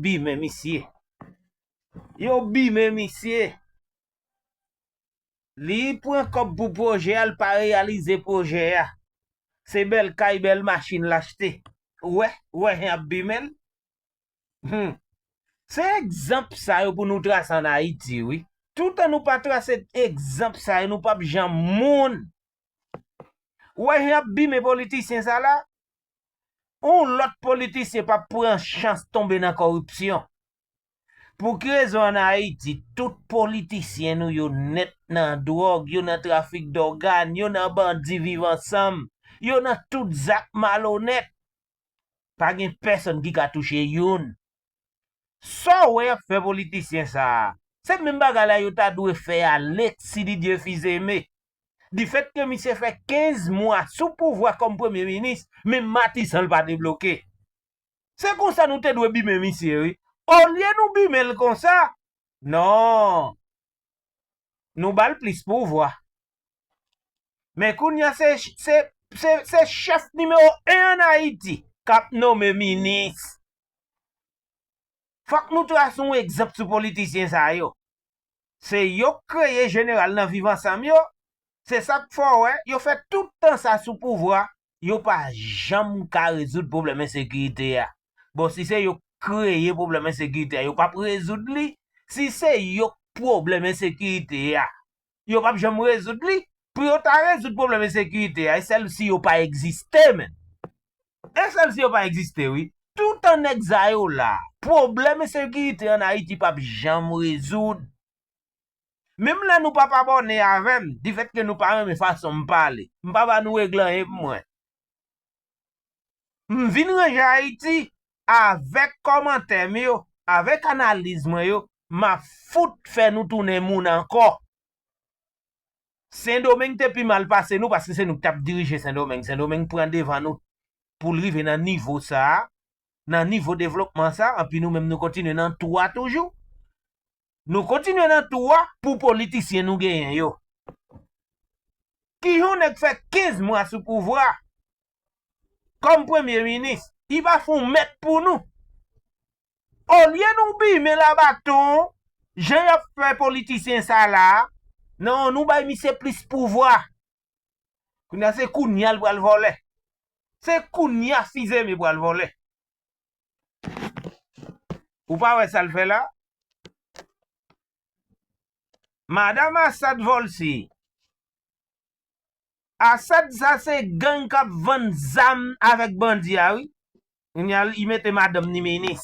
bimen misye. Yo bimen misye. Li pran kòb pou pwojè a, li pa reyalize pwojè a. Se bèl kay, bèl machin l achte. Ou wè, ou wè jan y ap bimen l? Hum! Se egzanp sa yo pou nou trase ann Ayiti wi. Toutan nou pa trase egzanp sa yo, nou pap janm moun. Ou wè jan y ap bimen politisyen sa la? Yon lòt politisyen p ap pran chans tonbe nan kòripsyon. Pou ki rezon an Ayiti tout politisyen nou yo nèt nan dwòg, yo nan trafik dògàn, yo nan bandi viv ansanm, yo nan tout zak malonèt? Pa gen pèsòn ki ka touche youn. Sa w wè y ap fè politisyen sa a, se menm bagay la yo ta dwe fè Alexis Didier Fils-Aimé difèt ke misye fè 15 mwa sou pouvwa kòm premye minis, menm matisan l pa debloke. Se konsa nou te dwe bimen misye wi. Olye nou bimen l konsa, non, nou ba l plis pouvwa. Men kounye a se, se, se, se chèf nimewo 1 an Ayiti k ap nome minis. Fòk nou tras yon egzanp sou politisyen sa yo. Se yo k kreye jeneral nan viv ansanm yo, se sak fè w wè yo fè tout tan sa sou pouvwa yo pa janm ka rezoud pwoblèm ensekirite a. Bon si se yo k kreye pwoblèm ensekirite a yo pap rezoud li, si se yo k pwoblèm ensekirite a yo pap janm rezoud li, pou yo ta rezoud pwoblèm ensekirite a e sèl si yo pa egziste menm. Inselsi yo pa egziste wi. Toutan nèg sa yo la, pwoblèm ensekirite an Ayiti p ap janm rezoud. Menm lè nou p ap abòne avè m, difètke nou pa renmen fason m pale, m pa ba nou regle anyen pou mwen. M vin ranje Ayiti avèk kòmantè m yo, avèk analiz mwen yo, m ap fout fè nou tounen moun ankò. Sendomeng te pi mal pase nou paske se nou ki tap dirije sendomeng, sendomeng pran devan nou poul rive nan nivo sa, nan nivo devlopman sa anpi nou menm nou kontinye nan tou a toujou, nou kontinye nan tou a pou politisyen nou genyen yo. Kijan yon nèg fè 15 mwa sou pouvwa kòm premye minis, li pa fon mèt pou nou. Olye nou bimen la baton jan yap fè politisyen sa la nan nou bay misye plis pouvwa kounya se kounya li pral vòlè se kounya fizeme pral vòlè ou pa wè sal fè la madam Assad vòlse. Asad sa se gang kap vann zam avek bandi a wi. Kounya li mete madanm ni minis.